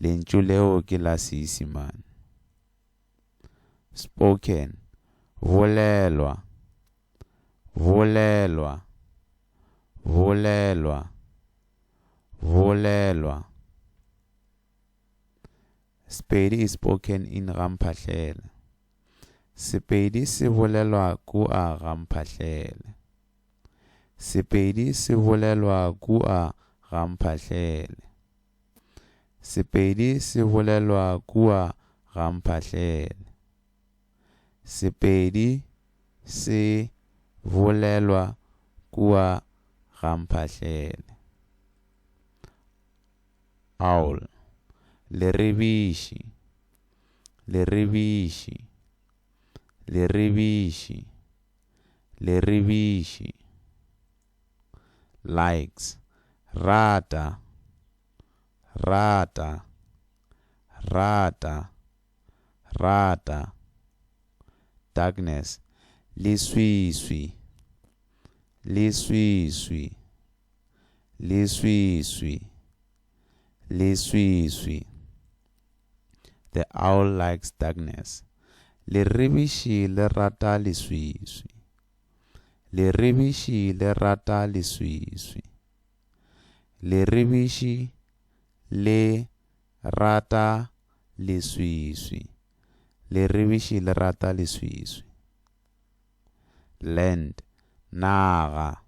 Lentšu leo ke la Seisimane. Spoken, bolelwa, bolelwa, bolelwa, bolelwa. Sepedi is spoken in Gamphahlele. Sepedi se bolelwa kua Gamphahlele. Sepedi se bolelwa kua Gamphahlele. Sepedi se bolelwa kua gamphahleng. Sepedi se bolelwa kua gamphahleng. Awl. Leribiši. Leribiši. Leribiši. Leribiši. likes, rata, rata, rata, rata, darkness, leswiswi, leswiswi, leswiswi, leswiswi, the owl likes darkness, leribiši le rata leswiswi, Leribiši le rata leswiswi. Leribiši le rata leswiswi. Leribiši le rata leswiswi. Land, naga,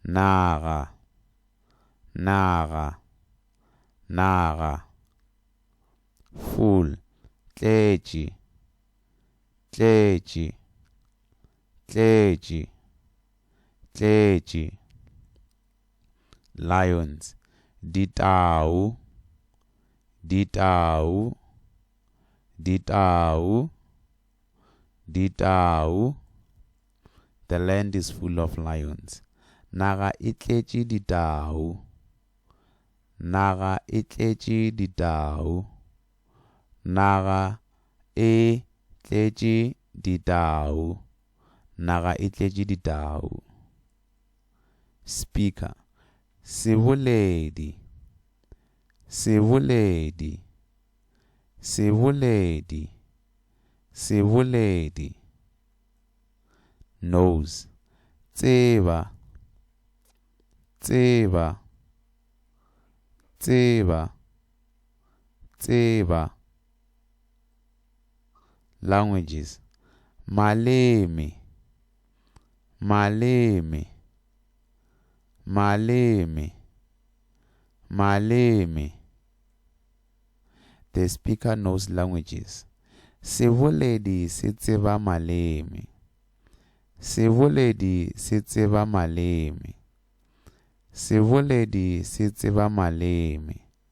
naga, naga, naga. Full, tletše, tletše tletše tletše lions ditau ditau ditau ditau the land is full of lions naga e tletše ditau naga e tletše ditau Naga e tletše ditau. Naga e tletše ditau. Speaker, Seboledi. Seboledi. Seboledi. Seboledi. Nose, Tseba. Tseba. Tseba. tseba, languages, maleme, maleme, maleme, maleme. The speaker knows languages. Seboledi se tseba maleme. Seboledi se tseba maleme. Seboledi se tseba maleme.